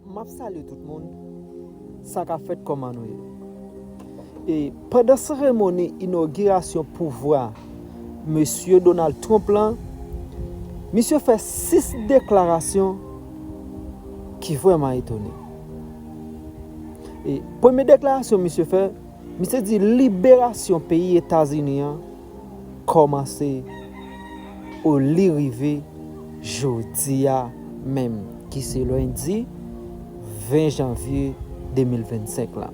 Map salye tout moun sa ka fèt kòman nou ye e pandan seremoni inogirasyon pouvwa mesye Donald Trump lan misye fè 6 deklarasyon ki vrèman etone e premye deklarasyon misye fè misye di liberasyon peyi etazini an kòmanse o li rive jodi a menm ki se lendi 20 janvye 2025 lan.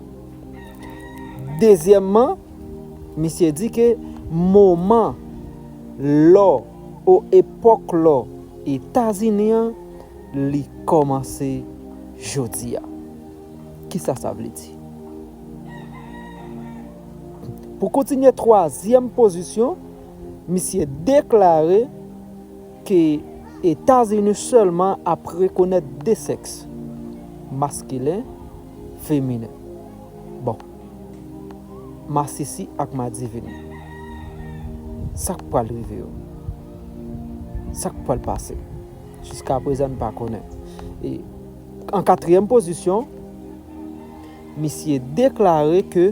Dezyèmman, misye di ke moman lò o epòk lò Etazini an li kòmanse jodi a. Kisa sa vle di? Pou kontinye twazyèm pozisyon, misye deklare ke Etazini sèlman ap rekonèt 2 sèks, maskilen, feminen. Bon. Masisi ak madivini. Sa k pral rive yo? Sa k pral pase? Jiskaprezan n pa konnen. E an katriyèm pozisyon. Misye deklare ke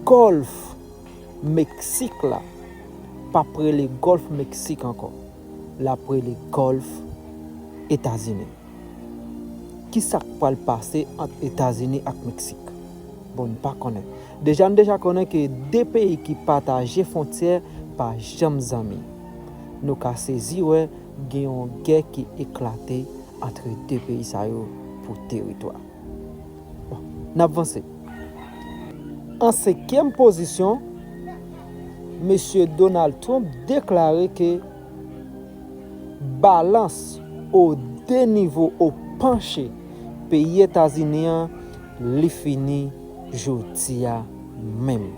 Gòlf Meksik la pap rele Gòlf Meksik ankò, lap rele Gòlf Etazini. Kisa k pral pase ant Etazini ak Meksik? Bon n pa konnen. Deja n deja konnen ke 2 peyi ki pataje fontyè pa janm zanmi. Nou ka sezi wè Gen yon gè ki eklate antre 2 peyi sa yo pou teritwa. Bon, n ap vanse. An senkyèm pozisyon, Mesye Donald Trump deklare ke balans o 2 nivo o panche peyi Etazini an li fini jodi a menm.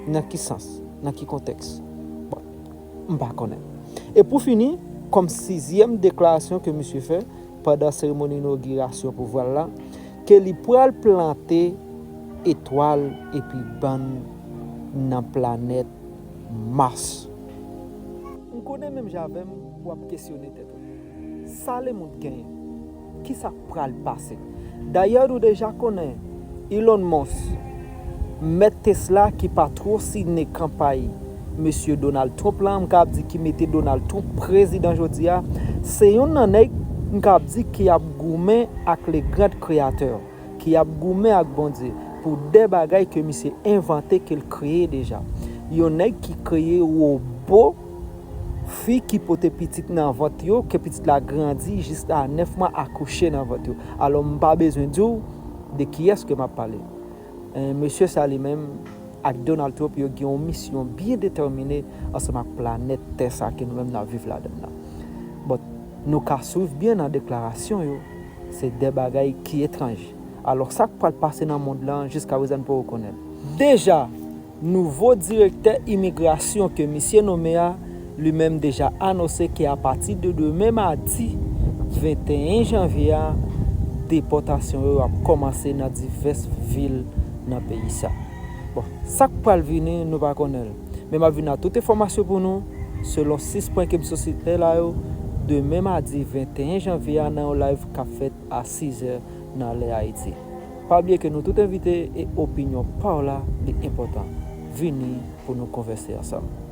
Nan ki sans? Nan ki kontèks? Bon. M pa konnen. E pou fini, kòm sizyèm deklarasyon ke misye fè pandan seremoni inogirasyon pouvwa l la, ke li pral plante etwal epi bann nan planèt Mars. M konnen menm jan avè m, w ap kesyone tèt ou. Sa Lemond genyen? Kisa k pral pase? Dayè nou deja konnen Elon Musk, mèt Tesla ki pa two sine kanpay mesye Donald Trump la, m kab di ki mete Donald Trump prezidan jodi a, se youn nan nèg m kab di ki ap goumen ak le grand Créateur, ki ap goumen ak Bondye pou de bagay ke misye envante ke l kreye deja. Yon nèg ki kreye wobo. Fi ki pote pitit nan vant yo, ke pitit la grandi jiska 9 mwa akouche nan vant yo. Alò m pa bezwen di w de kiyès ke m ap pale. Eeh mesye sa li menm ak Donald Trump yo gen yon misyon byen detèmine ansanm ak planèt tè sa ke nou menm n ap viv ladan l lan. But nou ka swiv byen nan deklarasyon yo, se de bagay ki etranj. Alò sa k pral pase nan mond lan jiska prezan n poko konnen l. Deja! Nouvo direktè imigrasyon ke misye nome a li menm deja anose ke apati de demen madi 21 janvye a depòtasyon yo ap kòmanse nan divès vil nan peyi sa. Bon, sak pral vini nou pa konnen l. Men map vini a tout enfòmasyon pou nou selon 6 pwen kem sosite la yo demen madi 21 janvye a nan yon live kap fèt a 6 zè nan lè Ayiti. Pa bliye ke nou tout envite e opinyon pa w la li enpòtan. Vini pou nou konvèse ansanm.